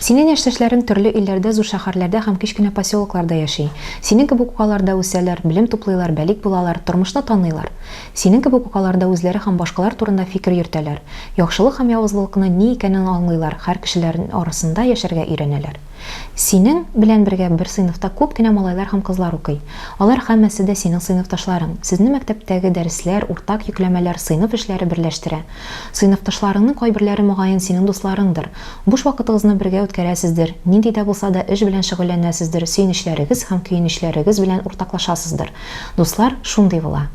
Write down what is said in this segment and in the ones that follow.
Синең яшьтәшләрең төрле илләрдә, зур шәһәрләрдә һәм кечкенә поселокларда яши. Синең кебек үк алар да үсәләр, белем туплыйлар, бәлик булалар, тормышны таныйлар. Синең кебек үк алар да үзләре һәм башкалар турында фикер йөртәләр. Яхшылык һәм явызлылыкның ни икәнен аңлыйлар, хәр кешеләр арасында яшәргә өйрәнәләр. Синең белән бергә бер сыйныфта күп кенә малайлар һәм кызлар укый. Алар һәммәсе дә синең сыйныфташларың. Сезне мәктәптәге дәресләр, уртак йөкләмәләр, сыйныф эшләре берләштерә. Сыйныфташларыңның кайберләре, мөгаен, синең дусларыңдыр. Буш вакытыгызны бергә үткәрәсездер, нинди дә булса да эш белән шөгыльләнәсездер, сөенечләрегез һәм көенечләрегез белән уртаклашасыздыр. Дуслар шундый була.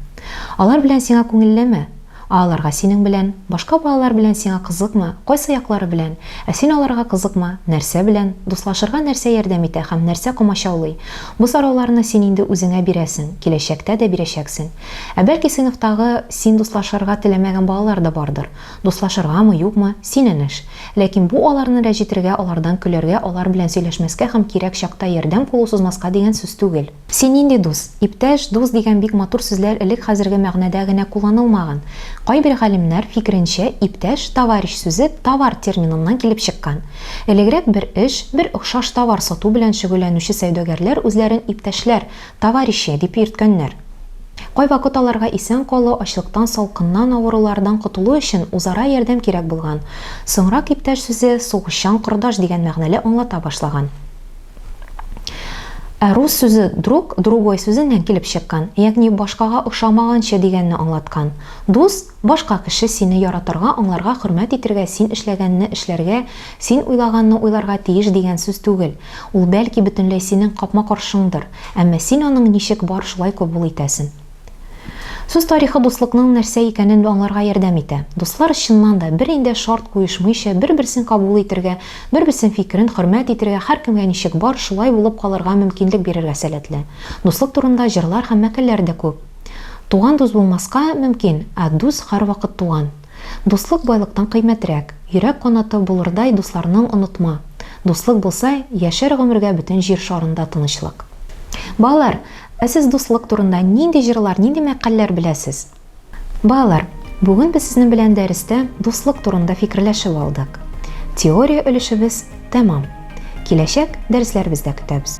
Алар белән сиңа күңеллеме? Ә аларга синең белән? Башка балалар белән сиңа кызыкмы? Кайсы яклары белән? Ә син аларга кызыкмы? Нәрсә белән? Дуслашырга нәрсә ярдәм итә һәм нәрсә комачаулый? Бу сорауларны син инде үзеңә бирәсең, киләчәктә дә бирәчәксең. Ә бәлки сыйныфтагы син дуслашырга теләмәгән балалар да бардыр? Дуслашыргамы, юкмы, синең эш. Ләкин бу аларны рәҗетергә, алардан көләргә, алар белән сөйләшмәскә һәм кирәк чакта ярдәм кулы сузмаска дигән сүз түгел. Син нинди дус? Иптәш, дус дигән бик матур сүзләр элек хәзерге мәгънәдә генә кулланылмаган. Кайбер галимнәр фикеренчә, иптәш, товарищ сүзе товар терминыннан килеп чыккан. Элегрәк бер эш, бер охшаш товар сату белән шөгыльләнүче сәүдәгәрләр үзләрен иптәшләр, Товарищи, дип йөрткәннәр. Кайвакыт аларга исән калу, ачлыктан, салкыннан, авырулардан котылу өчен үзара ярдәм кирәк булган. Соңрак иптәш сүзе сугышчан кордаш дигән мәгънәле аңлата башлаган. Ә рус сүзе друг, другой сүзеннән килеп чыккан, ягъни башкага охшамаганчы дигәнне аңлаткан. Дус, башка кеше, сине яратырга, аңларга, хөрмәт итергә, син эшләгәнне эшләргә, син уйлаганны уйларга тиеш дигән сүз түгел. Ул бәлки бөтенләй синең капма-каршыңдыр, әмма син аның ничек бар шулай кобул итәсен. Сүз тарихы дуслыкның нәрсә икәнен аңларга ярдәм итә. Дуслар чыннан да бер индә шарт куешмыйча бер-берсен кабул итергә, бер-берсен фикерен хөрмәт итергә һәркемгә ничек бар шулай булып калырга мөмкинлек бирергә сәләтле. Дуслык турында җырлар һәм мәкальләр дә күп. Туган дус булмаска мөмкин, ә дус һәрвакыт туган. Дуслык байлыктан кыйммәтрәк, йөрәк канаты булырдай дусларның онытма. Дуслык булса, яшәр гомергә бөтен җир шарында тынычлык. Балалар, ә сез дуслык турында нинди җырлар, нинди мәкальләр беләсез? Балалар, бүген без сезнең белән дәрестә дуслык турында фикерләшеп алдык. Теория өлешебез тәмам. Киләчәк дәресләребездә көтәбез.